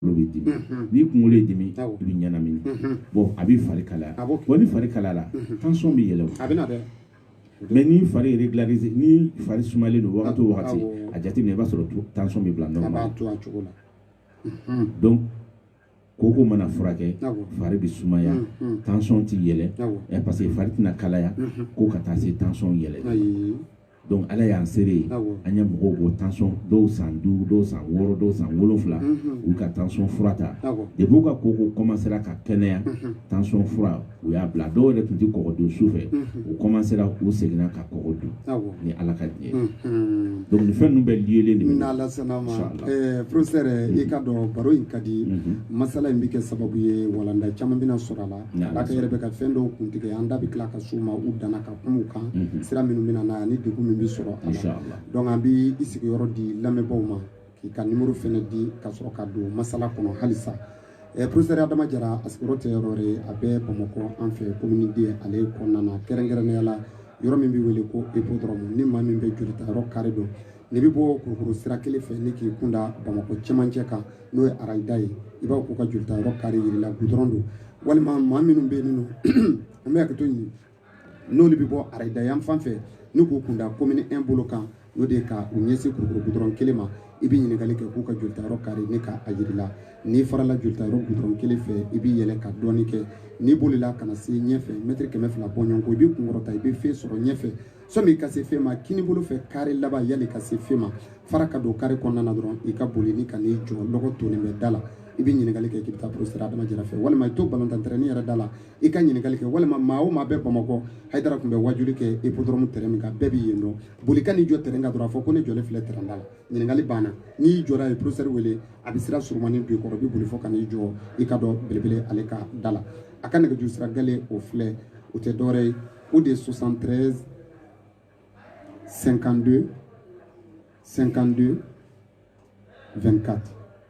kunkolo bɛ dimi n'i kunkolo ye dimi i bɛ ɲɛnamini bon a bɛ fari kalaya bon ni fari kalayala tansɔn bɛ yɛlɛ a bɛ na dɛ mais ni fari yɛrɛ dilanli ni fari sumalen don wagati o wagati a jateminɛ i b'a sɔrɔ tansɔn bɛ bila nɔ na to cogo la donc koko mana furakɛ fari bɛ sumaya tansɔn tɛ yɛlɛ ɛ parce que fari tɛna kalaya ko ka taa se tansɔn yɛlɛ donc ala y'an seere ye an ye mɔgɔw ko tansɔn dɔw san duuru dɔw san wɔɔrɔ dɔw san wolonfila u ka tansɔn fura ta depi u ka koko kɔmansera ka kɛnɛya tansɔn fura u y'a bila dɔw yɛrɛ tun tɛ kɔgɔ dun su fɛ u kɔmansera u seginna ka kɔgɔ dun ni ala ka diɲɛ donc nin fɛn ninnu bɛɛ liyelen de bɛ n'ala sɔnna ma eh, professeur i k'a dɔn baro in ka di masala in bɛ kɛ sababu ye walanda caman bɛna sɔrɔ a la ala ka yɛrɛ bɛ ka fɛn dɔw kuntigɛ an da bɛ tila ka s'u ma u danna ka kumaw kan mhm. sira minnu bɛna na ni degun min bɛ sɔrɔ a la donc an bɛ i sigiyɔrɔ di lamɛnbaaw ma k'i ka nimoro fɛnɛ di ka sɔrɔ ka don masala kɔnɔ halisa eh, professeur adama jara a sigiyɔrɔ tɛ yɔrɔ wɛrɛ a bɛ bamakɔ an fɛ komini 2 ale kɔnɔna na kɛrɛnkɛrɛnnenya la yɔrɔ min bɛ wele ko ipodɔrɔmu ni maa min bɛ jolita yɔrɔ kari dɔn n'i bɛ bɔ kulukɔrɔ sira kelen fɛ ni k'i kun da bamakɔ cɛmancɛ kan n'o ye arayida ye i b'a k'u ka jolita yɔrɔ kari yira i la gudɔrɔn don walima maa minnu bɛ yen nɔ an bɛ hakɛto ɲini n'olu bɛ bɔ arayida yan fan fɛ ni k'u kun da komini 1 bolo kan n'o de ye ka u ɲɛsin kulukɔrɔ gudɔrɔn kelen ma i bɛ ɲininkali kɛ k'u ka jolitayɔrɔ kari n'u ka a jira i la n'i farala jolitayɔrɔ gudɔrɔn kelen fɛ i bɛ yɛlɛ ka dɔɔni kɛ n'i bolila ka na se ɲɛfɛ mɛtiri kɛmɛ fila bɔɲɔgɔnko i b'i kun kɔrɔta i bɛ feu sɔrɔ ɲɛfɛ sani ka se feu ma kini bolo fɛ kari laban yani ka se feu ma fara ka don kari kɔnɔna na dɔrɔn i ka boli ni ka n'i jɔ lɔgɔ tonnen bɛ da la i bɛ ɲininkali kɛ k'i bɛ taa professeur adama jara fɛ walima i to balontan tɛrɛni yɛrɛ da la i ka ɲininkali kɛ walima maa o maa bɛ bamakɔ hayidara tun bɛ wajuli kɛ ipodɔrɔmu tɛrɛn min kan bɛɛ bɛ yen dɔn boli ka n'i jɔ tɛrɛn kan dɔrɔn a fɔ ko ne jɔlen filɛ tɛrɛn da la ɲininkali banna n'i jɔra yen professeur wele a bɛ sira surumani don i kɔrɔ i bɛ boli fɔ ka n'i jɔ i ka dɔn belebele ale ka da la a ka nɛgɛjuru sira gale o filɛ o tɛ dɔwɛrɛ ye o de ye 73 52 52 24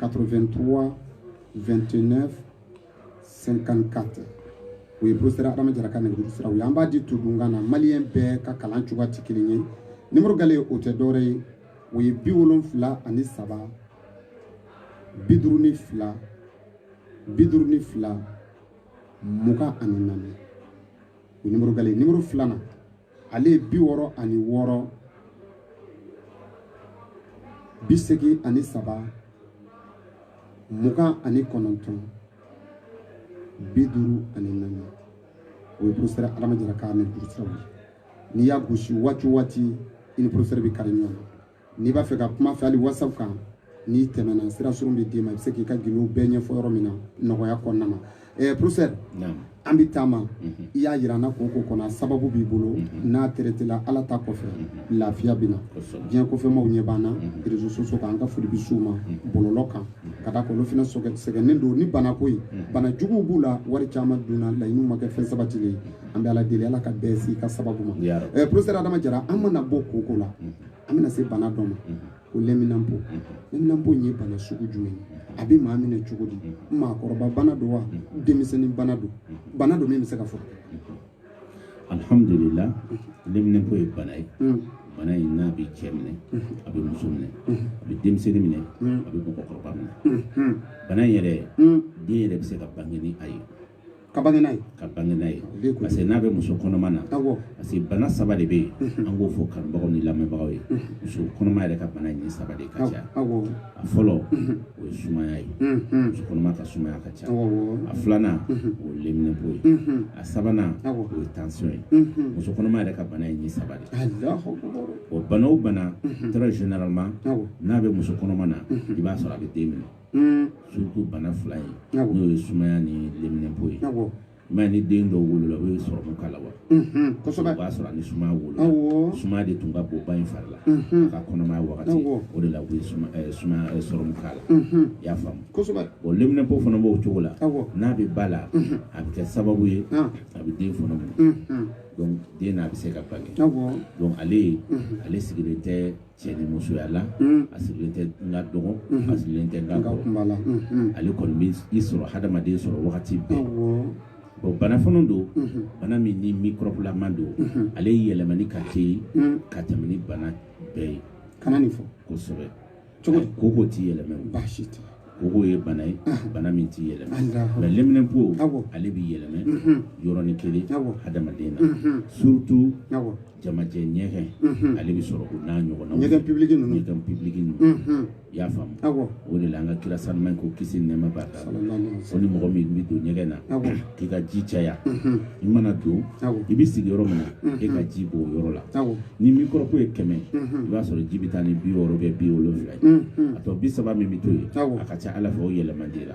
83 29 54 o ye professeur adama jara ka nɛgɛjuru siraw ye an b'a di todunkan na maliyɛn bɛɛ ka kalan cogoya tɛ kelen ye nimoro gale o tɛ dɔwɛrɛ ye o ye bi wolonfila ani saba bi duuru ni fila bi duuru ni fila mugan ani naani o nimoro gale nimoro filanan ale ye bi wɔɔrɔ ani wɔɔrɔ bi seegin ani saba mugan ani kɔnɔntɔn bi duuru ani naani o ye professeur adama jara ka nɛgɛjurusiraw ye n'i y'a gosi waati o waati i ni professeur bɛ kari ɲɔgɔn na n'i b'a fɛ ka kuma fɛ hali WhatsApp kan n'i tɛmɛna sira surun bɛ d'i ma i bɛ se k'i ka gindo bɛɛ ɲɛfɔ yɔrɔ min na nɔgɔya kɔnɔna na ɛɛ professeur an bɛ taama mhm. i y'a jira an na ko ko kɔnɔ sababu b'i bolo mhm. n'a traitéla ala ta kɔfɛ mhm. lafiya bɛ na diɲɛ kɔfɛmaw ɲɛ b'an na réseaux sociaux kan an ka foli bɛ s'u ma bɔlɔlɔ kan ka d'a kan olu fana sɛgɛnnen don ni banako ye bana juguw b'u la wari caman dunna laɲiniw ma kɛ fɛn sabatilen an bɛ ala deli ala ka bɛɛ s'i ka sababu ma ɛɛ professeur adama jara an mana bɔ koko la an bɛna se bana dɔ ma ko lɛminanpo lɛminanpo ye bana sugu jumɛn ye a bɛ maa minɛ cogo di maakɔrɔba bana don wa denmisɛnnin bana don bana don min bɛ se ka fɔ alhamdulila lɛminanpo ye bana ye hmm. bana in n'a bɛ cɛ minɛ hmm. a bɛ muso minɛ hmm. a bɛ denmisɛnnin minɛ a bɛ mɔgɔkɔrɔba minɛ bana in yɛrɛ den yɛrɛ bɛ se ka bange ni a ye ka bange n'a ye ka bange n'a ye parce que n'a bɛ muso kɔnɔma na parce que bana saba de bɛ yen an k'o fɔ kanubagaw ni lamɛnbagaw ye muso kɔnɔma yɛrɛ ka bana nin saba de ka ca a fɔlɔ o ye sumaya ye muso kɔnɔma ka sumaya ka ca a filanan o ye leminɛpo ye a sabanan o ye tansiyɔn ye muso kɔnɔma yɛrɛ ka bana ye nin saba de o bana o bana très généralement n'a bɛ muso kɔnɔma na i b'a sɔrɔ a bɛ den minɛ mm. surtout bana fila ye n'o ye sumaya ni leminɛnpo ye mais ni den dɔw wolola u ye sɔrɔmu k'a la wa mhm, kosɛbɛ o b'a sɔrɔ a ni sumaya wolola sumaya de tun ka bon ba in fari la mhm. a ka kɔnɔmaya wagati o de la u ye eh, sumaya eh, sɔrɔmu k'a la mhm. i y'a faamu kosɛbɛ bon leminɛpo fana b'o cogo la n'a bɛ ba la a bɛ kɛ sababu ye ah. a bɛ den fana minɛ donc den n'a bɛ se ka bange donc ale ale sigilen tɛ cɛ ni musoya la a sigilen tɛ n ka dɔgɔn a sigilen tɛ n ka kɔrɔ la ale kɔni bɛ i sɔrɔ hadamaden sɔrɔ wagati bɛɛ bon bana fana don bana min ni microbelama don ale yɛlɛmani ka teli ka tɛmɛ ni bana bɛɛ ye kana nin fɔ kosɛbɛ koko koko t'i yɛlɛma baasi tɛ koko ye bana ye bana min t'i yɛlɛma mais leminɛnpo ale b'i yɛlɛma yɔrɔnin kelen hadamaden na surtout jamajɛ ɲɛgɛn mhm. ale bɛ sɔrɔ o n'a ɲɔgɔnnaw ɲɛgɛn pibiliki ninnu ɲɛgɛn pibiliki ninnu mhm. i y'a faamu o de la an ka kira sanuma ko kisi ni nɛɛma b'a kan ko ni mɔgɔ min bɛ don ɲɛgɛn na k'i ka ji caya mhm. i mana don i bɛ sigi yɔrɔ min na i ka ji bɔn o yɔrɔ la ni microbe ye kɛmɛ i b'a sɔrɔ ji bɛ taa ni bi wɔɔrɔ kɛ bi wolonwula ye a tɔ bi saba min bɛ to yen a ka ca ala fɛ o yɛlɛma di la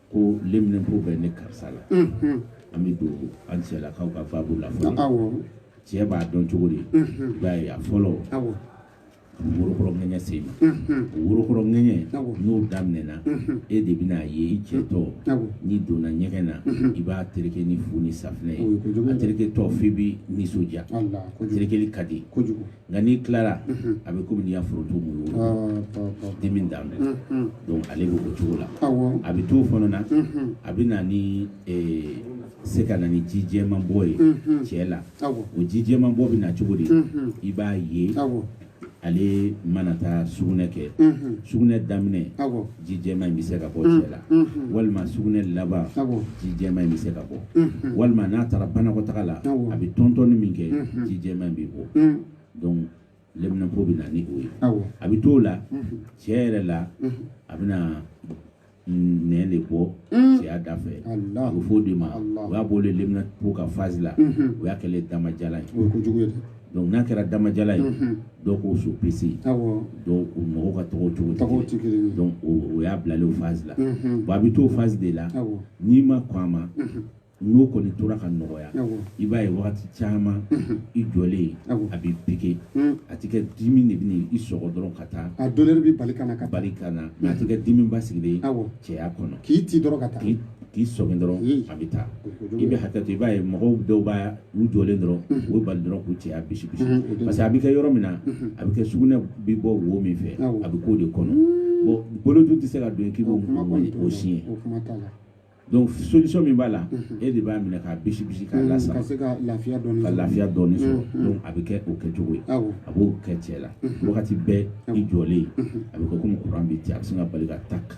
ko leminɛnpo bɛ ne karisa la an bɛ don an cɛlakaw ka baabu la fɔlɔ cɛ b'a dɔn cogo di i b'a ye a fɔlɔ worokɔrɔ ŋɛɲɛ sen na o worokɔrɔ ŋɛɲɛ n'o daminɛna e de bɛna a ye i cɛtɔ n'i donna ɲɛgɛn na i b'a tereke ni fu ni safinɛ ye a tereketɔ f'i bɛ nisɔndiya a terekeli ka di nka n'i tilara a bɛ komi n'i y'a foroto mugu dimi da mu donc ale bɛ o cogo la a bɛ t'o fana na a bɛ na ni se ka na ni ji jɛman bɔ ye cɛ la o ji jɛman bɔ bɛ na cogo di i b'a ye ale mana taa sugunɛ kɛ sugunɛ daminɛ ji jɛma in bɛ se ka bɔ cɛ la walima sugunɛ laban ji jɛma in bɛ se ka bɔ walima n'a taara banakɔtaga la a bɛ tɔntɔnni min kɛ ji jɛma in bɛ bɔ donc leminɛpo bɛ na ni o ye a bɛ t'o la cɛ yɛrɛ la a bɛna nɛn de bɔ cɛya da fɛ a bɛ fɔ o de ma o y'a bɔlen leminɛpo ka phase la o y'a kɛlen damajalan ye Donc n'a kɛra damajala ye dɔw k'o sopisi dɔw o mɔgɔw ka tɔgɔ cogo donc o y'a bilalen o phase la bon a bɛ t'o phase de la n'i ma kɔn a ma n'o kɔni tora ka nɔgɔya i b'a ye wagati caman i jɔlen a bɛ piqué a tɛ kɛ dimi de bɛ i sɔgɔ dɔrɔn ka taa a douleur bɛ bali ka ka bali ka na a tɛ kɛ dimi basigilen cɛya kɔnɔ k'i ci dɔrɔn ka taa k'i sɔgɔ dɔrɔn a bɛ taa i bɛ hakɛ to i b'a ye mɔgɔw dɔw b'a u jɔlen dɔrɔn u bɛ bali dɔrɔn k'u cɛya bisi bisi parce que a bɛ kɛ yɔrɔ min na a bɛ kɛ sugunɛ bɛ bɔ wo min fɛ a bɛ k'o de kɔnɔ bon bolo dun tɛ se ka don k'i b'o o siɲɛ donc solution min b'a la e de b'a minɛ k'a bisi bisi k'a lasa ka lafiya dɔɔni sɔrɔ donc a bɛ kɛ o kɛcogo ye a b'o kɛ cɛ la wagati bɛɛ i jɔlen a bɛ kɛ komi courant bɛ ci a bɛ sin ka bali ka tak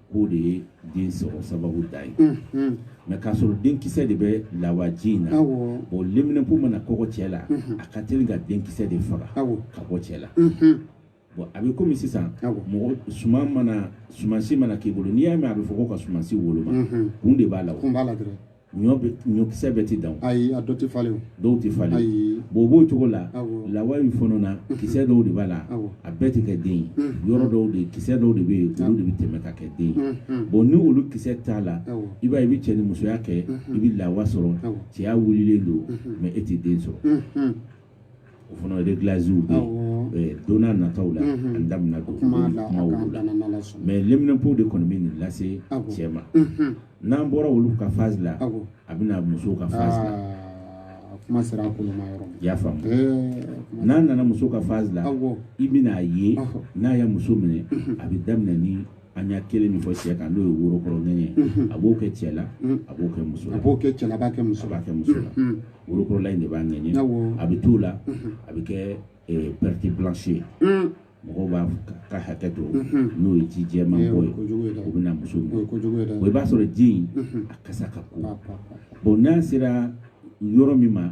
k'o de ye den sɔrɔ sababu da ye mais k'a sɔrɔ denkisɛ de bɛ lawaji in na bon leminɛpo mana kɔgɔ cɛ la a ka teli ka denkisɛ de faga ka bɔ cɛ la bon a bɛ komi sisan mɔgɔ suman mana sumansi mana k'i bolo n'i y'a mɛn a bɛ fɔ ko ka sumansi woloma kun de b'a la ɲɔ bɛ ɲɔkisɛ bɛɛ tɛ dan ayi a dɔ tɛ falen dɔw tɛ falen ayi bon o b'o cogo la lawa in fana na kisɛ dɔw de b'a la a bɛɛ tɛ kɛ den ye yɔrɔ dɔw de kisɛ dɔw de bɛ yen olu de bɛ tɛmɛ ka kɛ den ye bon ni olu kisɛ t'a la i b'a ye i bɛ cɛ ni musoya kɛ i bɛ lawa sɔrɔ cɛya wulilen don mais e tɛ den sɔrɔ o fana réglage bɛ don nataw la an da bɛna don kuma olu la mais leminɛpo de kɔni bɛ nin lase cɛ ma n'an bɔra olu ka phase la a bɛ na musow ka phase la kuma sera i y'a faamu n'an nana muso ka phase la i bɛna a ye n'a ye muso minɛ a bɛ daminɛ an y'a kelen min fɔ cɛ kan n'o ye worokɔrɔ ŋɛɲɛ ye a b'o kɛ cɛ la a b'o kɛ muso la a b'o kɛ cɛ la a b'a kɛ muso la a b'a kɛ muso la worokɔrɔla in de b'a ŋɛɲɛ a bɛ t'o la a bɛ kɛ perte blanche ye mɔgɔw b'a ka hakɛ to n'o ye ji jɛman bɔ ye o bɛ na muso ma o i b'a sɔrɔ ji in a kasa ka ko bon n'a sera yɔrɔ min ma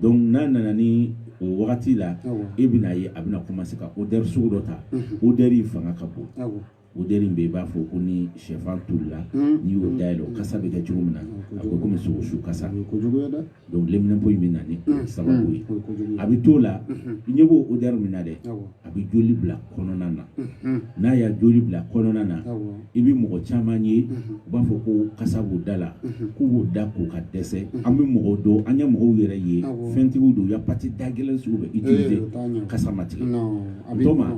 donc n'a nana ni o wagati la e bɛna ye a bɛna commencer ka odeur sugu dɔ ta odeur in fanga ka bon odeur in bɛ i b'a fɔ ko ni sɛfan tolila n'i y'o dayɛlɛ o kasa bɛ kɛ cogo min na a bɛ komi sogosu kasa donc leminɛnpo in bɛ na ni sababu ye a bɛ t'o la i ɲɛ b'o odeur min na dɛ a bɛ joli bila kɔnɔna na n'a y'a joli bila kɔnɔna na i bɛ mɔgɔ caman ye u b'a fɔ ko kasa b'u da la k'u b'u da ko ka dɛsɛ an bɛ mɔgɔw dɔn an ye mɔgɔw yɛrɛ ye fɛntigiw don u ye pâte da gɛlɛn sugu bɛɛ utiliser kasa ma tigɛ o ma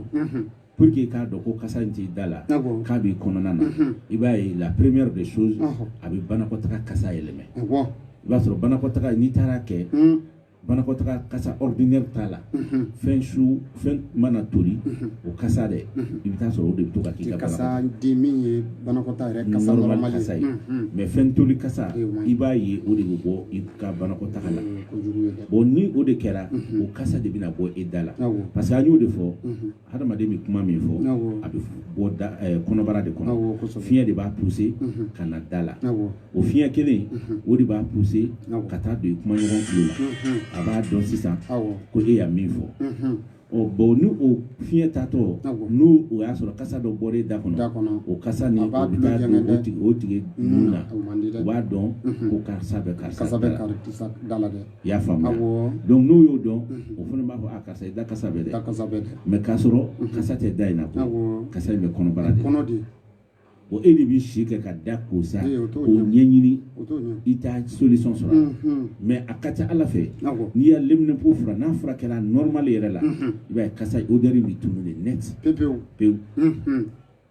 pour que k'a dɔn ko kasa in t'i da la k'a b'i kɔnɔna na i b'a ye la première des choses a bɛ banakɔtaga kasa yɛlɛmɛ i b'a sɔrɔ banakɔtaga n'i taara kɛ banakɔtaga kasa ordinaire t'a la fɛn su fɛn mana toli o kasa dɛ i bɛ taa sɔrɔ o de bɛ to ka k'i ka kasa di min ye banakɔtaga yɛrɛ kasa normal kasa ye mais fɛn toli kasa i b'a ye o de bɛ bɔ i ka banakɔtaga la bon ni o de kɛra o kasa de bɛna bɔ i da la parce que an y'o de fɔ hadamaden bɛ kuma min fɔ a bɛ bɔ eh, kɔnɔbara de kɔnɔ fiɲɛ de b'a pousser mhm. ka na da la o fiɲɛ kelen mhm. o de b'a poussé ka taa don i kumaɲɔgɔn tulo la mhm. a b'a dɔn sisan ko e y'a min fɔ ɔ bon ni o fiɲɛ taatɔ ni o y'a sɔrɔ kasa dɔ bɔra e da kɔnɔ o kasa ni o bɛ taa don o tigi o tigi nun na o b'a dɔn ko karisa bɛ karisa da la dɛ i y'a faamuya awɔɔ donc n'o y'o dɔn unhun o fana b'a fɔ a ah, karisa i da kasa bɛ dɛ da kasa bɛ dɛ mais k'a sɔrɔ unhun kasa tɛ da in na ko awɔɔ kasa in bɛ kɔnɔbara de kɔnɔ de o e de b'i si kɛ ka da ko sa ee o t'o k'o ɲɛ ɲɛɲini o t'o ɲɛ i t'a solution sɔrɔ a la unhun mais a ka ca a la fɛ awɔ n'i y'a leminɛnpo fura n'a furakɛra normal yɛrɛ la unhun i b'a ye kasa odeur in bɛ tunu de net pepewu pewu unhun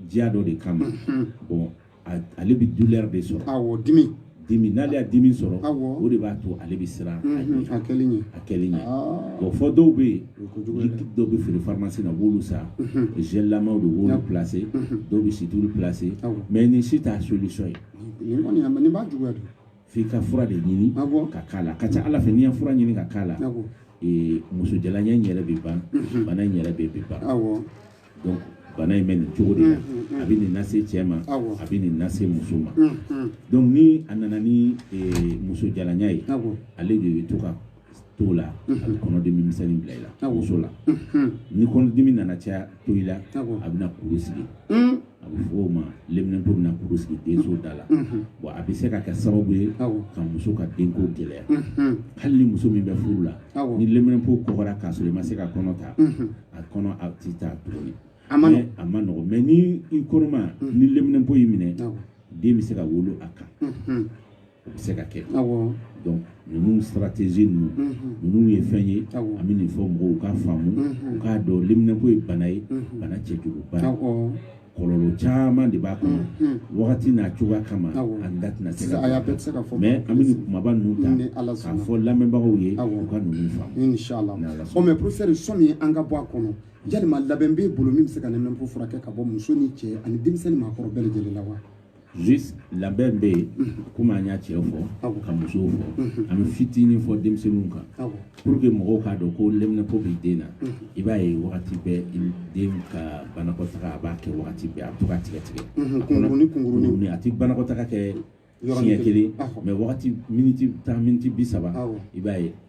diya dɔ de kama bon ale bɛ douleur de sɔrɔ awɔ dimi dimi n'ale y'a dimi sɔrɔ o de b'a to ale bɛ siran a kɛli ɲɛ a kɛli ɲɛ bon fɔ dɔw bɛ yen liquide dɔw bɛ feere pharmacie la u b'olu san gel lamaw de b'olu placer dɔw bɛ situlu placer mais nin si t'a solution ye nin kɔni nin b'a juguya de f'i ka fura de ɲini ka k'a la ka ca a la fɛ n'i ye fura ɲini ka k'a la muso jalanya in yɛrɛ bɛ ban bana in yɛrɛ bɛ bɛ ban donc bana in bɛ nin cogo de la a bɛ nin lase cɛ ma a bɛ nin lase muso ma donc ni a nana ni muso jalanya ye ale de bɛ to ka to la a bɛ kɔnɔdimi misɛnnin bila i la muso la ni kɔnɔdimi nana caya to i la a bɛna kuru sigi a bɛ fɔ o ma leminɛnpo bɛna kuru sigi denso da la bon a bɛ se ka kɛ sababu ye ka muso ka denko gɛlɛya hali ni muso min bɛ furu la ni leminɛnpo kɔgɔra k'a sɔrɔ i ma se ka kɔnɔ ta a kɔnɔ a tɛ ta tuguni a ma a man nɔgɔ mais ni i kɔnɔma mm. ni leminɛnpo y'i minɛ den bɛ se ka wolo a kan mm-hmm. o bɛ se ka kɛ donc ninnu stratégie ninnu mm-hmm. ninnu ye fɛn ye an bɛ nin fɔ mɔgɔw k'a faamu mm-hmm. u k'a dɔn leminɛnpo ye bana ye bana cɛjuguba kɔlɔlɔ caman de b'a kɔnɔ mm, mm. wagati n'a cogoya kama an da tɛna se ka mais an bɛ nin kumaba ninnu ta k'a fɔ lamɛnbagaw ye u ka ninnu faamu inshallah ɔ mais professeur sɔnni an ka bɔ a kɔnɔ yalima labɛn b'e bolo min bɛ se ka leminɛnpo furakɛ ka bɔ muso ni cɛ ani denmisɛnnin maakɔrɔ bɛɛ lajɛlen la wa juste labɛn bɛ yen komi an ye cɛw fɔ ka musow fɔ an bɛ fitinin fɔ denmisɛnninw kan pour que mɔgɔw k'a dɔn ko leminɛnpo bɛ den na i b'a ye wagati bɛɛ den ka banakɔtaga a b'a kɛ wagati bɛɛ a bɛ to ka tigɛ tigɛ kunkuruni kunkuruni a tɛ banakɔtaga kɛ siɲɛ kelen mais wagati miniti tan miniti bi saba i b'a ye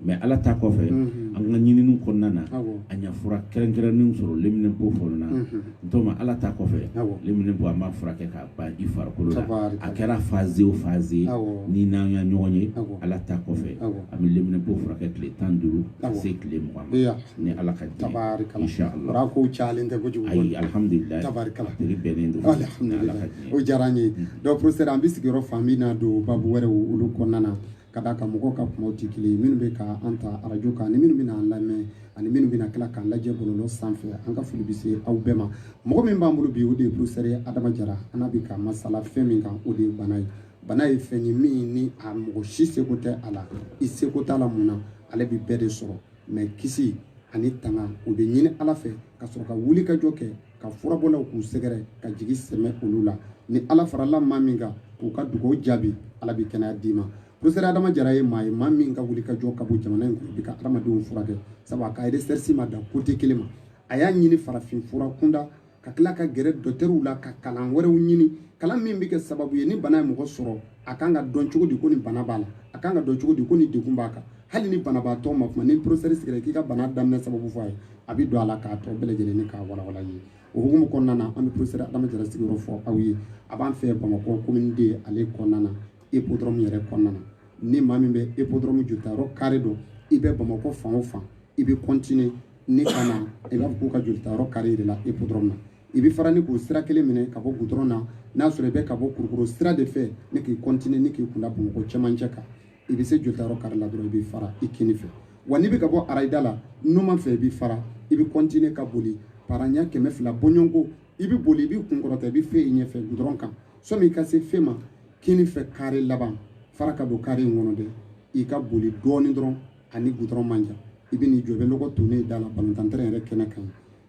mais ala ta kɔfɛ an ka ɲininiw kɔnɔna na an ye fura kɛrɛnkɛrɛnnen sɔrɔ leminɛnpo fan na n ala ta kɔfɛ leminɛnpo an b'a furakɛ k'a ban i farikolo la a kɛra phase o phase ni n'an ka ɲɔgɔn ye ala ta kɔfɛ an bɛ leminɛnpo furakɛ tile tan duuru ka se tile mugan ma ni ala ka di ko ca tɛ kojugu ayi alihamdulila tari bɛnnen don o diyara n ye donc professeur an bɛ sigiyɔrɔ fan min na don babu wɛrɛ olu kɔnɔna na ka d'a kan mɔgɔw ka kumaw tɛ kelen ye minnu bɛ ka an ta arajo kan ani minnu bɛna an lamɛn ani minnu bɛna tila k'an lajɛ bɔlɔlɔ sanfɛ an ka foli bɛ se aw bɛɛ ma mɔgɔ min b'an bolo bi o de ye professeur adama jara an n'a bɛ ka masala fɛn min kan o de ye bana ye bana ye fɛn ye min ni a mɔgɔ si seko tɛ a la i seko t'a la mun na ale bɛ bɛɛ de sɔrɔ mais kisi ani tanga o bɛ ɲini ala fɛ ka sɔrɔ ka wulikajɔ kɛ ka furabɔlaw k'u sɛgɛrɛ ka jigi sɛmɛ olu la ni ala farala maa min kan k'u ka dugawu jaabi ala bɛ kɛnɛya d'i ma professeur adama jara ye maa ye maa min ka wulikajɔ ka bon jamana in kɔnɔ bi ka adamadenw furakɛ sabu a ka recherche ma dan côté kelen ma a y'a ɲini farafin fura kunda ka tila ka gɛrɛ docteurw la ka kalan wɛrɛw ɲini kalan min bɛ kɛ sababu ye ni bana ye mɔgɔ sɔrɔ a kan ka dɔn cogo di ko nin bana b'a la a kan ka dɔn cogo di ko nin degun b'a kan hali ni banabaatɔ ma kuma ni professeur sigira k'i ka bana daminɛ sababu fɔ a ye a bɛ don a la k'a tɔ bɛɛ lajɛlen ni k'a walawala ye o hukumu kɔnɔna na an bɛ professeur adama jara sigiyɔrɔ fɔ aw ye a b'an fɛ bamakɔ commune deux ale kɔnɔna na hippodrome yɛrɛ kɔnɔna na ni maa min bɛ hippodrome jolitayɔrɔ carré dɔn i bɛ bamakɔ fan o fan i bɛ continuer ni ka na i b'a fɔ k'u ka jolitayɔrɔ carré yɛrɛ la hippodrome na i bɛ fara ni k'o sira kelen minɛ ka bɔ gudɔrɔn na n'a sɔrɔ i bɛ ka bɔ kulukɔrɔ sira de fɛ ni k'i continuer ni k'i kunda bamakɔ cɛmancɛ kan i bɛ se jolitayɔrɔ carré la dɔrɔn i bɛ fara i kini fɛ wa n'i bɛ ka bɔ arayida la numan fɛ i bɛ fara i bɛ continuer ka boli paranya kɛmɛ fila bɔɲɔgɔnko i bɛ boli i b'i kun kɔrɔta i bɛ feu ye ɲɛfɛ gudɔrɔn kan sani i ka se feu ma kini fɛ carré laban fara ka don carré in kɔnɔ dɛ i ka boli dɔɔnin dɔrɔn a ni gudɔrɔn man jan i bɛ n'i jɔ i bɛ lɔgɔ tonnen da la balontan terrain kɛnɛ kan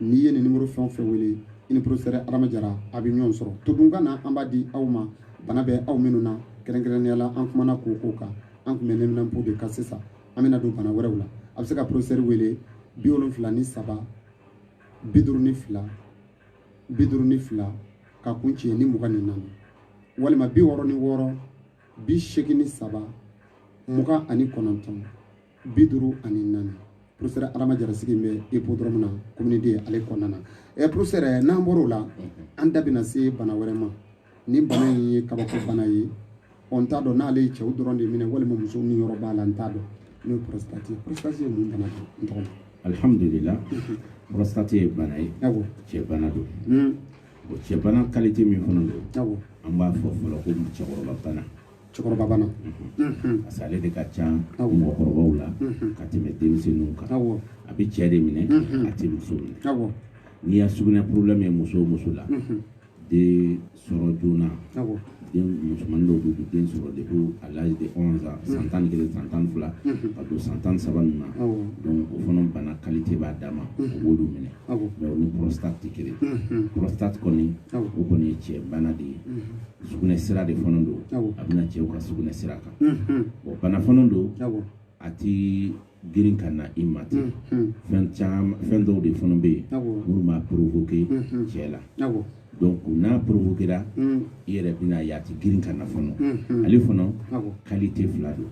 n'i ye nin nimoro fɛn o fɛn wele i ni professeur adama jara aw bɛ ɲɔgɔn sɔrɔ todunkan na an b'a di aw ma bana bɛ aw minnu na kɛrɛnkɛrɛnnenya la an kumana ko o ko kan an tun bɛ neminanpo de kan sisan an bɛna don bana wɛrɛw la aw bɛ se ka professeur wele bi wolonfila ni saba bi duuru ni fila bi duuru ni fila k'a kuncɛ ni mugan ni naani walima bi wɔɔrɔ ni wɔɔrɔ bi seegin ni saba mugan ani kɔnɔntɔn bi duuru ani naani professeur adama jara sigi bɛ hippodrome na commune deux ale kɔnɔna na ɛ professeur n'an bɔr'o la an da bɛna se bana wɛrɛ ma ni bana in ye kabako bana ye ɔ n t'a dɔn n'ale ye cɛw dɔrɔn de minɛ walima muso niyɔrɔ b'a la n t'a dɔn n'o ye prostate ye prostate ye mun bana ye n tɔgɔ alhamdulila prostate ye bana ye cɛ bana don hmm. cɛ bana qualité min fana don an b'a fɔ fɔlɔ ko cɛkɔrɔba bana cɛkɔrɔba bana parce que ale de ka ca mɔgɔkɔrɔbaw la ka tɛmɛ denmisɛnninw kan a bɛ cɛ de minɛ a tɛ muso minɛ n'i y'a sugunɛ problème ye muso o muso la den sɔrɔ joona den musomannin dɔw bɛ den sɔrɔ depuis à l'âge de 11 ans san tan ni kelen san tan ni fila ka don san tan ni saba ninnu na donc o fana bana qualité b'a danma o b'olu minɛ mais o ni prostate tɛ kelen prostate kɔni o kɔni ye cɛ bana de ye sugunɛ sira de fana don a bɛ na cɛw ka sugunɛ sira kan bon bana fana don a tɛ girin ka na i ma ten fɛn dɔw de fana bɛ yen minnu b'a provoquer cɛ la donc n'a provoquera i yɛrɛ bɛn'a ye a tɛ girin ka na fana ale fana qualité fila don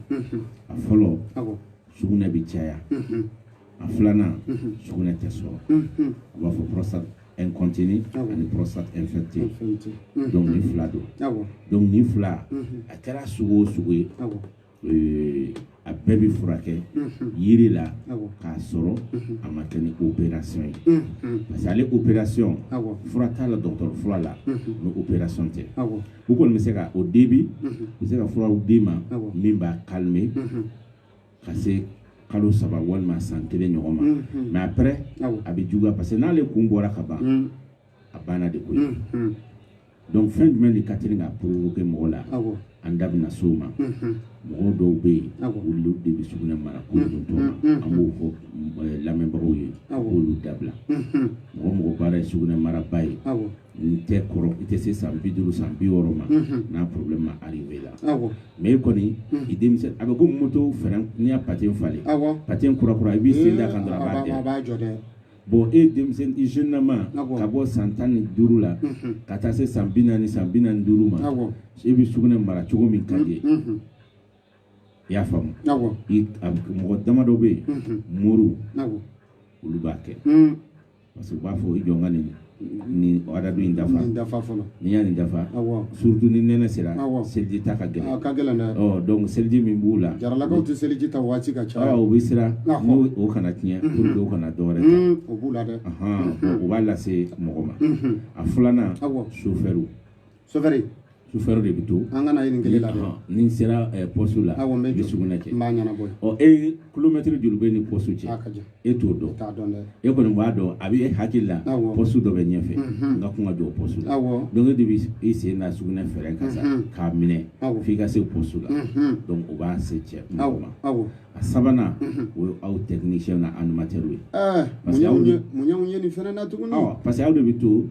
a fɔlɔ sugunɛ bɛ caya a filanan sugunɛ tɛ sɔrɔ a b'a fɔ prostate incontinue ani prostate infectée donc nin fila don donc nin fila a kɛra sugu o sugu ye euh, a bɛɛ bɛ furakɛ yiri la k'a sɔrɔ a ma kɛ ni opération ye parce que ale opération fura t'a la dɔgɔtɔrɔ fura la ni opération tɛ u kɔni bɛ se ka o debi u bɛ se ka furaw d'i ma min b'a calmer ka se kalo saba walima san kelen ɲɔgɔn ma mais après a bɛ juguya parce que n'ale kun bɔra ka ban a banna de koyi donc fɛn jumɛn de ka teli k'a provoquer mɔgɔ la an da bɛna s'o ma mɔgɔ dɔw bɛ yen olu de bɛ sugunɛ mara ko don tɔ ma an b'o fɔ lamɛnbagaw ye k'olu dabila mɔgɔ mɔgɔ baara ye sugunɛ maraba ye n tɛ kɔrɔ i tɛ se san bi duuru san bi wɔɔrɔ ma n'a problème ma arriver i la mais e kɔni i denmisɛn a bɛ ko moto frein n'i y'a patin falen patin kura kura i b'i sen da kan dɔrɔn a b'a jɔ dɛ bon e denmisɛn i jeune lama ka bɔ san tan ni duuru la ka taa se san bi naani san bi naani duuru ma e bɛ sugunɛ mara cogo min ka di i y'a faamu mɔgɔ damadɔ bɛ yen moriw olu b'a kɛ parce que u b'a fɔ i jɔ n ka nin nin adadu in dafa nin dafa fɔlɔ n'i y'a nin dafa surtout ni nɛnɛ sera seliji ta ka gɛlɛn ka gɛlɛn dɛ ɔ donc seliji min b'u la jaralakaw tɛ seliji ta waati ka ca ɔ u bɛ siran o kana tiɲɛ pour que u kana dɔwɛrɛ ta o b'u la dɛ o b'a lase mɔgɔ ma a filanan sofɛriw sofɛri sofɛri de bɛ to a kan na nin kelen la ni n sera poste la awɔ n bɛ sugunɛ kɛ n b'a ɲɛnabɔ ɔ e kilomɛtiri joli b'e ni poste cɛ e t'o dɔn t'a dɔn dɛ e kɔni b'a dɔn a bɛ e hakili la poste dɔ bɛ ɲɛfɛ n ka kan ka jɔ poste la awɔ donc e de bɛ i sen da sugunɛ frein kan sa k'a minɛ f'i ka se poste la donc o b'a se cɛ mɔgɔ ma awɔ a sabanan o ye aw technicien ni animateur ye parce que aw de mun ye nin fɛnɛ na tuguni parce que aw de bɛ to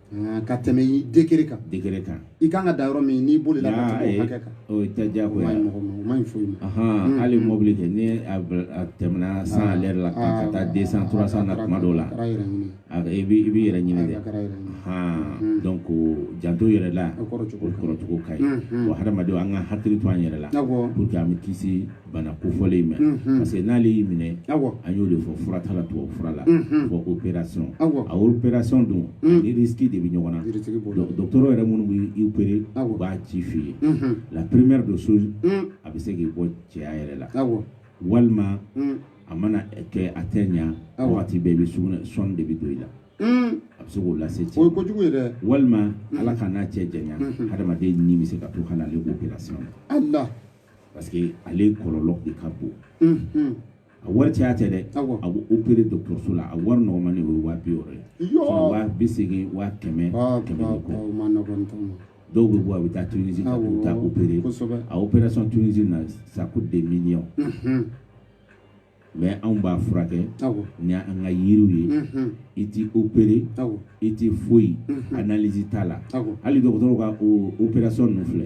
Ah, ka tɛmɛ i degré kan degré kan i kan ka da yɔrɔ min n'i bolila ka tɛmɛ hakɛ kan o tɛ jago ye mɔgɔ ma o ma ɲi foyi ma hmm. hali mobili kɛ ni a tɛmɛna cent à l'heure la ka taa deux cents trois cents na tuma dɔw la i b'i yɛrɛ ɲini dɛ hmm. donc janto yɛrɛ la o kɔrɔcogo ka ɲi hmm, wa hadamadenw an ka hakili to an yɛrɛ la pour que an bɛ kisi bana kofɔlen in ma mhm. parce que n'ale y'i minɛ an y'o de fɔ fura t'a la tubabu fura la mhm. fo opération a opération dun mhm. ni risque de bɛ ɲɔgɔn na dɔgɔtɔrɔ yɛrɛ minnu bɛ i opérer u b'a ci f'i ye la première des choses a bɛ se k'i bɔ cɛya yɛrɛ la walima a mana kɛ a tɛ ɲa wagati bɛɛ i bɛ sugunɛ sonde de bɛ don i la Mm. a bɛ se k'o lase cɛ o ye kojugu ye dɛ walima mm. ala k'an n'a cɛ janya mm-hmm. hadamaden ni bɛ se ka to hali ale opération na ala parce que ale kɔlɔlɔ de ka bon unhun a wari caya tɛ dɛ Awɔ. a bɛ opéré dɔgɔtɔrɔso la a wari nɔgɔman de o ye waa bi wɔɔrɔ ye Yɔɔ. Sinon waa bi seegin waa kɛmɛ Ba, kɛmɛ ba, ni ba, kɔ o ma nɔgɔn tɔn ma. dɔw bɛ bɔ a bɛ taa Tunisie ka Awɔ, t'u ta opéré kosɛbɛ. a opération Tunisie na ça coûte des millions unhun mais anw b'a furakɛ ni an ka yiriw ye i tɛ opéré i tɛ foyi analyse t'a la hali dɔgɔtɔrɔw ka opération ninnu filɛ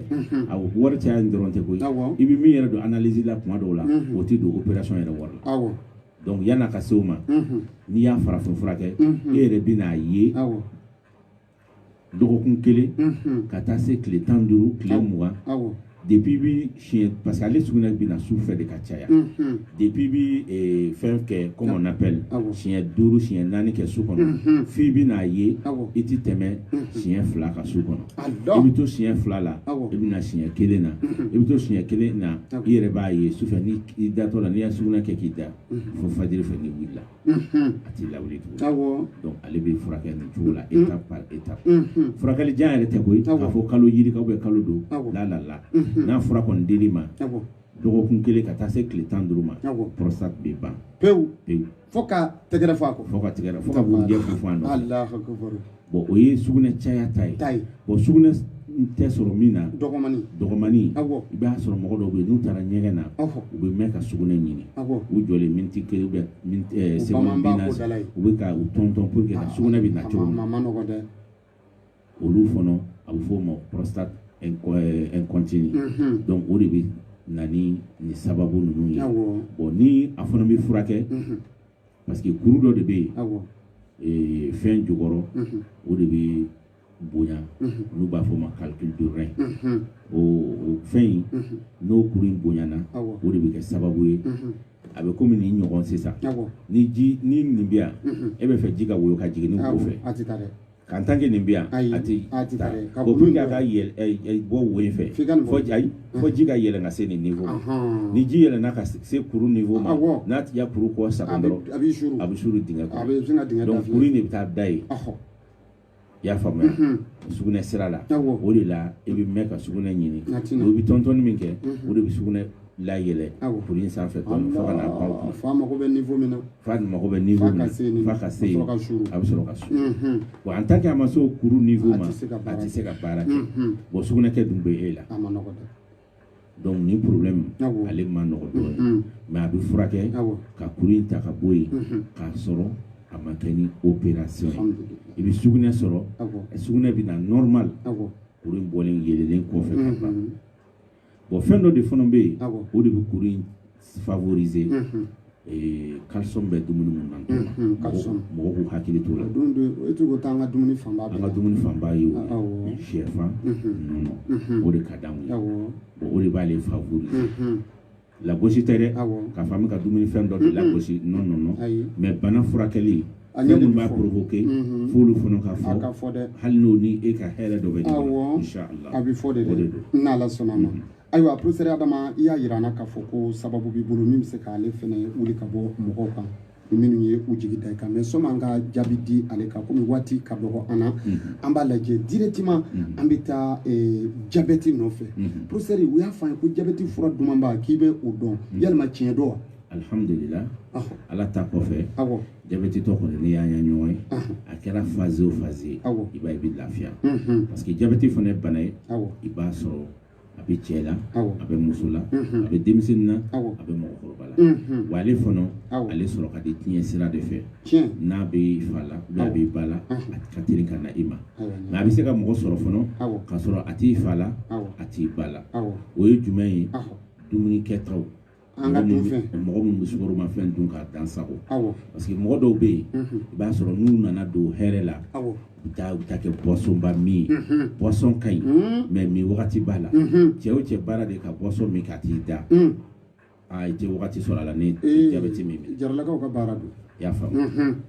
a wari caya in dɔrɔn tɛ koyi i bɛ min yɛrɛ don analyse la tuma dɔw la o tɛ don opération yɛrɛ wari la donc yan'a ka se o ma n'i y'a farafin furakɛ e yɛrɛ bɛn'a ye dɔgɔkun kelen ka taa se tile tan duuru tile mugan depuis bi siɲɛ parce que ale sugunɛ bɛ na su fɛ de ka caya depuis bi eh, fɛn kɛ comme on appelle siɲɛ duuru siɲɛ naani kɛ su kɔnɔ f'i bɛn'a ye i ti tɛmɛ siɲɛ fila kan su kɔnɔ i bɛ to siɲɛ fila la i bɛ na siɲɛ kelen na i bɛ to siɲɛ kelen na i yɛrɛ b'a ye su fɛ ni i datɔ la n'i y'a sugunɛ kɛ k'i da fo fajiri fɛ n'i wulila a t'i lawuli tugun donc ale bɛ furakɛ nin cogo la étape par étape furakɛli jan yɛrɛ tɛ koyi k'a fɔ kalo yirika ou bien kalo don la la la n'a fura kɔni dir'i ma dɔgɔkun kelen ka taa se tile tan duuru ma prostate bɛ ban pewu pewu fo ka tɛgɛrɛ fɔ a kɔ fo ka tɛgɛrɛ fo ka bugurijɛ funfun a nɔ na. Bon o ye sugunɛ caya ta ye bon sugunɛ tɛ sɔrɔ min na dɔgɔmani i b'a sɔrɔ mɔgɔ dɔw bɛ yen n'u taara ɲɛgɛn na u bɛ mɛn ka sugunɛ ɲini u jɔlen miniti kelen ou bien seconde bi naani u bɛ ka u tɔntɔn pour que ka sugunɛ bɛ na cogo min olu fana a bɛ fɔ o ma prostate incontinue donc o de bɛ na ni sababu ninnu ye bon ni a fana bɛ furakɛ parce que kuru dɔ de bɛ yen awɔ ee, fɛn jukɔrɔ Mhm. o de bɛ bonya Mhm. n'u b'a fɔ o ma calcul de rein Mhm. o o fɛn in Mhm. n'o kuru in bonyana awɔ o de bɛ kɛ sababu ye Mhm. a bɛ komi nin ɲɔgɔn sisan awɔ ni ji ni nin bɛ yan Mhm. e bɛ fɛ ji ka woyo ka jigin nin wo awɔ fɛ a tɛ taa dɛ Kan tan kɛ nin bɛ yan a tɛ ka bɔ ka bɔ wo in fɛ fɔ ji ka yɛlɛ ka se nin nin fɔ ni ji yɛlɛ ka se kuru nin fɔ ma n'a tɛ kuru kɔ sa a bɛ s de bɛ taa da ye i y'a faamuya sugunɛɛ sira la o de la i bɛ mɛn ka sugunɛɛ ɲini o bɛ tɔnon min kɛ o de bɛ sugunɛɛ layɛlɛ kuru in sanfɛ dɔɔnin fo ka na baw kɔnɔ fa mago bɛ niveau min na fa mago bɛ niveau min na f'a ka se yen a bɛ sɔrɔ ka suru bon en tant que a ma se o kuru niveau ma a tɛ se ka baara kɛ bon sugunɛkɛ dun bɛ e la a ma nɔgɔ dɛ donc nin problème ale ma nɔgɔ dɔɔnin mais a bɛ furakɛ ka kuru in ta ka bɔ yen k'a sɔrɔ a ma kɛ ni opération ye i bɛ sugunɛ sɔrɔ sugunɛ bɛ na normal kuru in bɔlen yɛlɛlen kɔfɛ ka ban bon fɛn dɔ de fana bɛ yen o de bɛ kuru in favoriser calcium bɛ dumuni minnu na mɔgɔw k'u hakili t'o la e tɛ ko taa an ka dumuni fanba an ka dumuni fanba ye o ye sɛfan nɔnɔ o de ka d'anw ye o de b'ale favoriser lagosi tɛ dɛ k'a fɔ an bɛ ka dumuni fɛn dɔ de lagosi non non non mais bana furakɛli fɛn minnu b'a provoquer mhm. f'olu fana ka fɔ a ka fɔ dɛ hali n'o ni e ka hɛrɛ dɔ bɛ ɲɔgɔn na inchallah a bɛ fɔ de dɛ n'Ala sɔnna a ma mhm. ayiwa professeur Adama i y'a yira an na k'a fɔ ko sababu b'i bolo min bɛ se k'ale fana wuli ka bɔ mɔgɔw kan minnu ye u jigi da i kan mais sani an ka jaabi di ale kan komi waati ka dɔgɔ an na mhm. an b'a lajɛ directement mhm. an bɛ taa eh, jabɛti nɔfɛ mhm. professeur u y'a fɔ an ye ko jabɛti fura dumanba k'i bɛ o dɔn yalima tiɲɛ don wa alhamdulillah ah. ala ta kɔfɛ ah, jabɛtitɔ kɔni n'i n'an ye ɲɔgɔn ye ah. a kɛra phase o phase ye i b'a ye i bɛ lafiya parce que jabɛti fana ye bana ye i b'a sɔrɔ a bɛ cɛ la a bɛ muso la a bɛ denmisɛnnin na a bɛ mɔgɔkɔrɔba la wa ale fana ale sɔrɔ ka di tiɲɛ sira de fɛ n'a b'i fa la n'a b'i ba la a ka teli ka na i ma mais a bɛ se ka mɔgɔ sɔrɔ fana k'a sɔrɔ a t'i fa la a t'i ba la o ye jumɛn ye dumuni kɛtaw an ka dunfɛn mɔgɔ minnu bɛ sukoromafɛn dun k'a dan sagon parce que mɔgɔ dɔw bɛ yen i b'a sɔrɔ n'u nana don hɛrɛ la u taa u ta kɛ boissonba min ye boisson ka ɲi mais min wagati b'a la cɛ o cɛ baara de ka boisson min ka t'i da aa i tɛ wagati sɔrɔ a la ni jabɛti min jaralakaw ka baara don i y'a faamu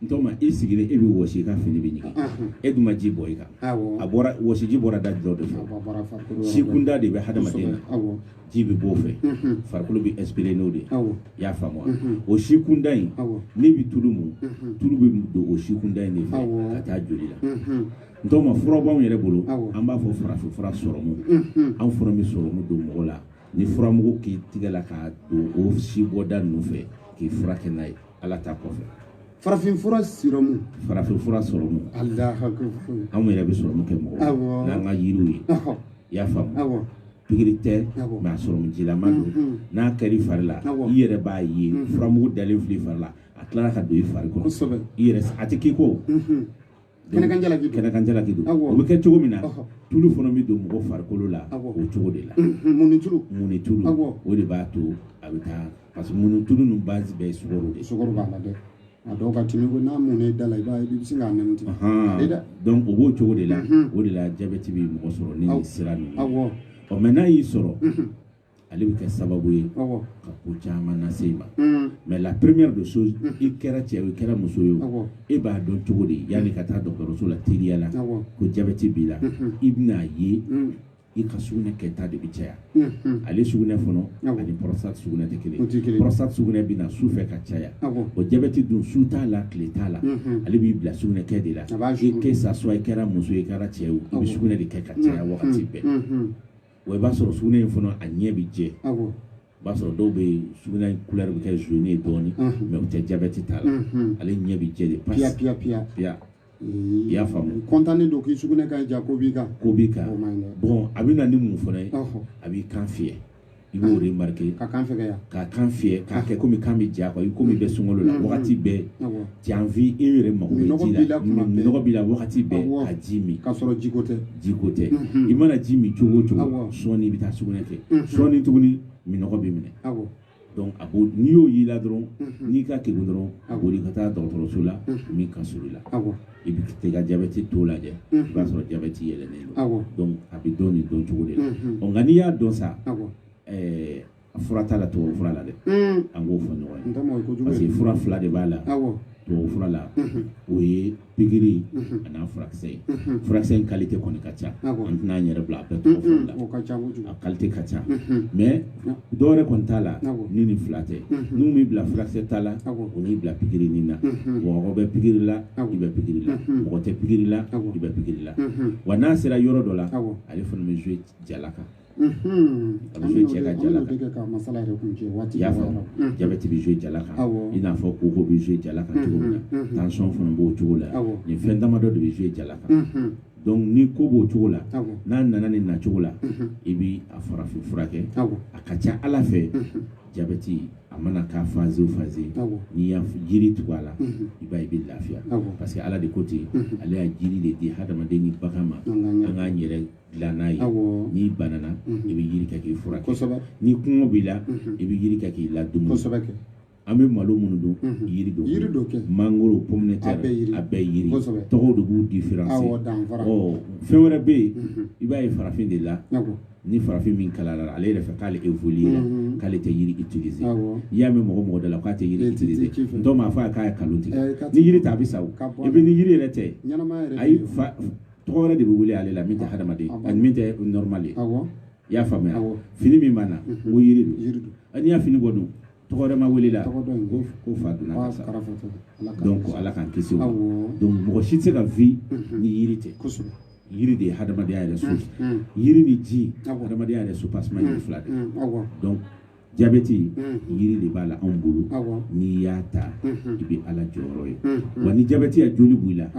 n tɔma i sigilen e bɛ wɔsi i ka fini bɛ ɲigin e dun ma ji bɔn i kan a bɔra wɔsiji bɔra da dɔ de fɛ sikunda de bɛ hadamaden na ji bɛ b'o fɛ farikolo bɛ expirer n'o de ye i y'a faamu o sikunda in n'i bɛ tulu mun tulu bɛ don o sikunda in de fɛ ka taa joli la n tɔma fura b'anw yɛrɛ bolo an b'a fɔ farafinfura sɔrɔmu anw fana bɛ sɔrɔmu don mɔgɔ la ni furamugu k'i tigɛ la k'a don o si bɔda ninnu fɛ k'i furakɛ n'a ye ala ta kɔfɛ farafinfura sirɔmu farafinfura sɔrɔmu anw yɛrɛ bɛ sɔrɔmu kɛ mɔgɔ n'an ka yiriw ye i y'a faamu pikiri tɛ mais a sɔrɔmu jilama don mm, mm. n'a kɛra i fari la i yɛrɛ b'a ye mm, furamugu dalen filɛ i fari la a tilara ka don i fari kɔnɔ i yɛrɛ a tɛ k'i ko mm-hmm. kɛnɛkan jalaki don kɛnɛkan jalaki don Awɔ. o bɛ kɛ cogo min na Ɔhɔ. tulu fana bɛ don mɔgɔ farikolo la Awɔ. o cogo de la Mhm, munnitulu munnitulu Awɔ. o de b'a to a bɛ taa parce que munnitulu ninnu base bɛɛ ye sukaro de ye sukoro b'a la dɛ a dɔw ka timi ko n'a mun i da la i b'a ye i bɛ sin k'a nɛnɛ tigɛ Ahan. a bɛ dɛ donc o b'o cogo de la Mhm. o de la jabɛti bɛ mɔgɔ sɔrɔ ni Awɔ. nin sira ninnu awɔ ɔ mais n'a y'i sɔrɔ ale bɛ kɛ sababu ye ka ko caman lase i ma mm. mais la première des choses mm. i kɛra cɛ i kɛra muso ye e b'a dɔn cogo di yanni ka taa dɔgɔtɔrɔso la teliya la ko jabɛti b'i la mm-hmm. i bɛn'a ye mm. i ka sugunɛ kɛta de bɛ caya mm-hmm. ale sugunɛ fɔlɔ ani prostate sugunɛ tɛ kelen prostate sugunɛ bɛ na su fɛ ka caya o jabɛti dun su t'a la tile t'a la mm-hmm. ale b'i bila sugunɛ kɛ de la i que ça soit i kɛra muso i kɛra cɛ i bɛ sugunɛ de kɛ ka caya wagati bɛɛ wa i b'a sɔrɔ sugunɛ in fana a ɲɛ bɛ jɛ i b'a sɔrɔ dɔw bɛ yen sugunɛ in couleur bɛ kɛ jaune ye dɔɔni mais u tɛ jabɛti t'a la ale ɲɛ bɛ jɛ de pasi piya piya piya piya i y'a faamu kɔntannen don k'i sugunɛ ka ja ko b'i kan ko b'i kan bɔn a bɛ na ni mun fana ye a b'i kan fiyɛ i b'o remarquer ka kan fɛgɛya ka kan fiyɛ k'a kɛ komi kan bɛ ja quoi komi i bɛ sunkalo la wagati bɛɛ Tu as envie e yɛrɛ mako bɛ ji la minɔgɔ b'i la wagati bɛɛ ka ji min k'a sɔrɔ jiko tɛ jiko tɛ i mana ji min cogo o cogo sɔɔni i bɛ taa sugunɛ kɛ sɔɔni tuguni minɔgɔ b'i minɛ a b'o n'i y'o y'i la dɔrɔn n'i ka kegun dɔrɔn a boli ka taa dɔgɔtɔrɔso la min ka surun i la i bɛ t'i ka jabɛti taux lajɛ i b'a sɔrɔ jabɛti yɛlɛlen don a bɛ dɔn nin dɔn cogo de la nka n'i y'a dɔn sa A fura t'a la tubabu fura la dɛ an k'o fɔ ɲɔgɔn ye parce que fura fila de b'a la tubabu fura la o ye pikiri ani a furakisɛ ye furakisɛ in qualité kɔni ka ca an tɛna an yɛrɛ bila a bɛɛ tɔgɔ fɔli la a qualité ka ca mais dɔwɛrɛ kɔni t'a la ni nin fila tɛ n'u m'i bila furakisɛ ta la u n'i bila pikiri nin na mɔgɔ bɛ pikiri la i bɛ pikiri la mɔgɔ tɛ pikiri la i bɛ pikiri la wa n'a sera yɔrɔ dɔ la ale fana bɛ jouer jala kan a bɛ jouer cɛ ka jala kan i y'a faamu jabɛti bɛ jouer jala kan i n'a fɔ koko bɛ jouer jala kan cogo min na tension fana b'o cogo la nin fɛn damadɔ de bɛ jouer jala kan donc ni ko b'o cogo la n'a nana nin nacogo la i bɛ a farafin furakɛ a ka ca ala fɛ jabɛti a mana k'a phase o phase n'i y'a jiri tugu a la i b'a ye i bɛ lafiya parce que ala de ko ten ale y'a jiri de di hadamaden ni bagan ma an k'an yɛrɛ dilan n'a ye n'i banana i bɛ yiri kɛ k'i furakɛ kosɛbɛ ni kɔngɔ b'i la i bɛ yiri kɛ k'i ladumuni kosɛbɛ kɛ an bɛ malo minnu dun yiri don yiri don kɛ mangoro pomme de terre a bɛɛ yiri a bɛɛ yiri kosɛbɛ tɔgɔw de b'u différencier awɔ danfara ɔ fɛn wɛrɛ bɛ yen i b'a ye farafin de la ni farafin min kalara ale yɛrɛ fɛ k'ale évoluer la k'ale tɛ yiri utiliser n'i y'a mɛn mɔgɔ o mɔgɔ da la k'a tɛ yiri utiliser dɔw m'a fɔ a k'a ye kalon tigɛ ni yiri tɛ a bɛ sa o et puis ni yiri yɛrɛ tɛ ayi fa tɔgɔ wɛrɛ de bɛ wele ale la min tɛ hadamaden ani min tɛ normal ye i y'a faamuya fini min b'an na mhm. o yiri don n'i y'a fini bɔ dun tɔgɔ wɛrɛ ma wele i la ko fa donna ka sa donc ala k'an kisi o ma donc mɔgɔ si tɛ se ka vi mhm. ni yiri tɛ yiri de ye hadamadenya yɛrɛ source mhm. yiri ni ji hadamadenya yɛrɛ soubassement yiri fila de donc jabɛti yiri de b'a la anw bolo n'i y'a ta i bɛ ala jɔyɔrɔ ye wa ni jabɛti ya joli b'i la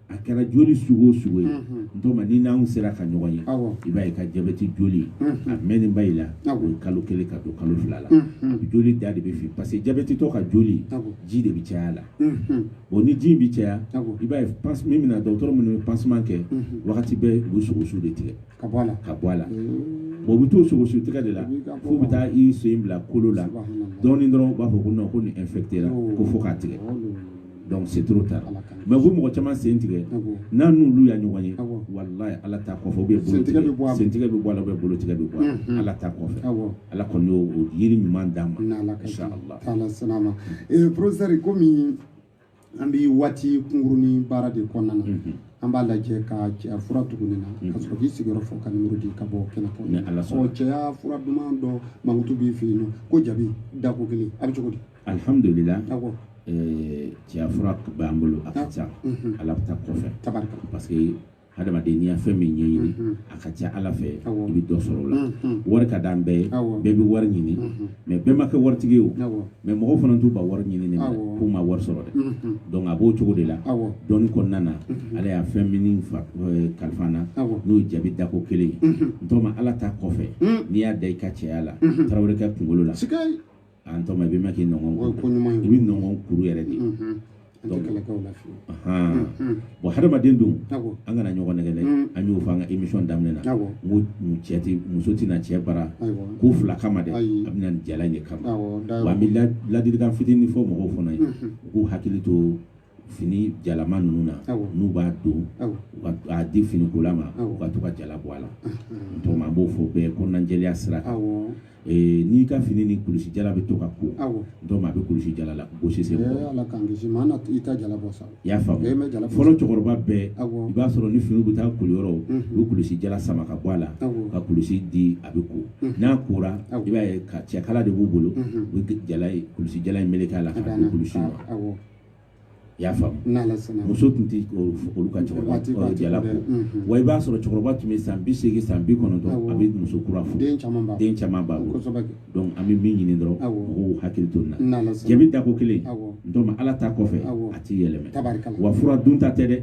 a kɛra joli sugu o sugu ye n tɔgɔma ni n'anw sera ka ɲɔgɔn ye i b'a ye ka jabɛti joli a mɛnnenba i la o ye kalo kelen ka don kalo fila la joli da de bɛ fin parce que jabɛtitɔ ka joli ji de bɛ caya a la bon ni ji in bɛ caya i b'a ye min bɛna dɔgɔtɔrɔ minnu bɛ pansement kɛ wagati bɛɛ u bɛ sogosu de tigɛ ka bɔ a la ka bɔ a la bon u bɛ t'o sogosu tigɛ de la f'u bɛ taa i sen bila kolo la dɔɔnin dɔrɔn u b'a fɔ ko non ko nin infectéra ko fo k'a tigɛ donc c'est trop tard mais ko mɔgɔ caman sen tigɛ n'an n'olu ya ɲɔgɔn ye walayi ala ta kɔfɛ ou bien bolo tigɛ sen tigɛ bɛ bɔ a la ou bien bolo tigɛ bɛ bɔ a la ala ta kɔfɛ ala kɔni y'o yiri ɲuman d'an ma inshallah professeur komi an bɛ waati kunkurunin baara de kɔnɔna na mhm. an b'a lajɛ ka cɛya fura tugu nin na mhm. ka sɔrɔ k'i sigiyɔrɔ fɔ ka nimoro di ka bɔ kɛnɛ kɔnɔ cɛya fura duman dɔ mankutu b'i fɛ yen nɔ ko jabi dako kelen a bɛ cogo di alihamudulila cɛya fura b'an bolo a ka ca mhm. ala ta kɔfɛ parce que hadamaden n'i y'a fɛn min ɲɛɲini a ka ca ala fɛ i bɛ dɔ sɔrɔ o la wari ka d'an bɛɛ ye bɛɛ bɛ wari ɲini mais bɛɛ ma kɛ waritigi ye o mais mɔgɔw fana t'u ban wari ɲinini k'u ma wari sɔrɔ dɛ donc a b'o cogo de la dɔnni kɔnɔna na ala y'a fɛn min kalifa n na n'o ye jabi dako kelen ye n tɔgɔma ala ta kɔfɛ n'i y'a da i ka cɛya la tarawelekɛ kunkolo la a n tɔgɔma i bɛ mɛn k'i nɔgɔn o ye ko ɲuman ye i bɛ nɔnkɔnkuru yɛrɛ de bɔ hadamaden don an kana ɲɔgɔn nɛgɛn dɛ an y'o fɔ an ka imisɔn daminɛ na n ko cɛ tɛ muso tɛ na cɛ bara ko fila kama dɛ a bɛ na jala in de kama wa an bɛ ladilikan fitinin fɔ mɔgɔw fana ye u k'u hakili to fini jalama ninnu na n'u b'a don a di finikola ma u ka to ka jala bɔ a la n tɔgɔma an b'o fɔ bɛɛ kɔnɔnajɛya sira kan n'i ka fini ni kulusi jala bɛ to ka ko dɔw a bɛ kulusi jala la gosi sen kɔrɔ i y'a faamu fɔlɔ cɛkɔrɔba bɛɛ i b'a sɔrɔ ni fini bɛ taa koliyɔrɔ u bɛ kulusi jala sama ka bɔ a la ka kulusi di a bɛ ko n'a kora i b'a ye ka cɛkala de b'u bolo u bɛ jala kulusi jala in meleke a la k'a di kulusi ma i y'a faamu muso tun tɛ olu ka cɛkɔrɔba jala ko wa i b'a sɔrɔ cɛkɔrɔba tun bɛ san bi seegin san bi kɔnɔntɔn a bɛ muso kura furu den caman b'a bolo donc an bɛ min ɲini dɔrɔn mɔgɔw hakili to nin na jabi dako kelen n tɔgɔma ala ta kɔfɛ a t'i yɛlɛma wa fura dunta tɛ dɛ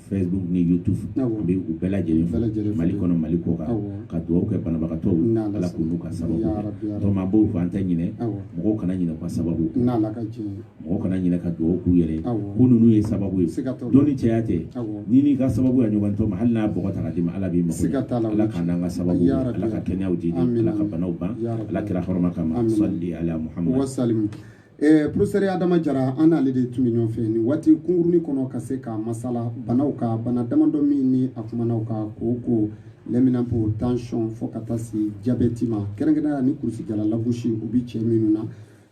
Facebook ni YouTube an bɛ u bɛɛ lajɛlen fo Mali kɔnɔ Mali kɔkan ka dugawu kɛ banabagatɔw ye Ala k'u n'u ka sababu bɛn donc an b'o fɔ an tɛ ɲinɛ mɔgɔw kana ɲinɛ u ka sababu kɔ mɔgɔw kana ɲinɛ ka dugawu k'u yɛrɛ ye ko ninnu ye sababu ye dɔnni caya tɛ n'i n'i ka sababu ka ɲɔgɔn tɔma hali n'a bɔgɔ ta k'a d'i ma Ala b'i mago ɲɛ Ala k'an n'an ka sababu bɛn Ala ka kɛnɛyaw di di Ala ka banaw ban Ala kira hɔrɔma kama salli ala Muhamadu. Eh, professeur adama jara an n'ale de tun bɛ ɲɔgɔn fɛ nin waati kunkurunnin kɔnɔ ka se ka masala banaw kan bana damadɔ minnu a kumana u kan koko lɛminanpo tansiyɔn fo ka taa se jabɛti ma kɛrɛnkɛrɛnnenya ni kurusijala lagosi o bɛ cɛ minnu na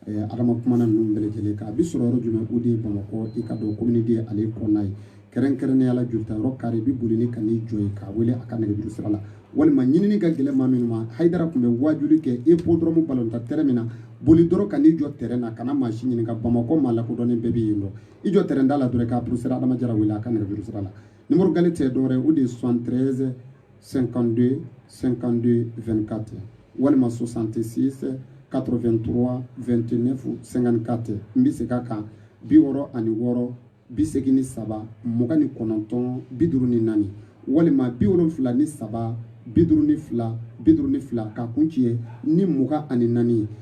eh, adama kumana ninnu bɛɛ lajɛlen kan a bɛ sɔrɔ yɔrɔ jumɛn o de ye bamakɔ i k'a dɔn commune deux ale kɔnɔna ye kɛrɛnkɛrɛnnenya la joli tayɔrɔ kare i bɛ boli ni ka n'i jɔ yen k'a wele a ka nɛgɛjuru sira la walima ɲinini ka gɛlɛn maa minnu ma hayidara tun bɛ waajuli kɛ hippodrome balontan tɛrɛn min na boli dɔrɔn ka n'i jɔ tɛrɛn na kana maa si ɲininka bamakɔ maa lakodɔnnen bɛɛ bɛ yen dɔn i jɔ tɛrɛn da la dɔrɔn ka professeur adama jara wele a ka nɛgɛjuru sira la nimɔrɔ gale tɛ dɔwɛrɛ o de ye 73 52 52 24 walima 66 83 29 54 n bɛ segin a kan bi wɔɔrɔ ani wɔɔrɔ bi segin ni saba mugan ni kɔnɔntɔn bi duuru ni naani walima bi wolonfila ni saba bi duuru ni fila bi duuru ni fila k'a kuncɛ ni mugan ani naani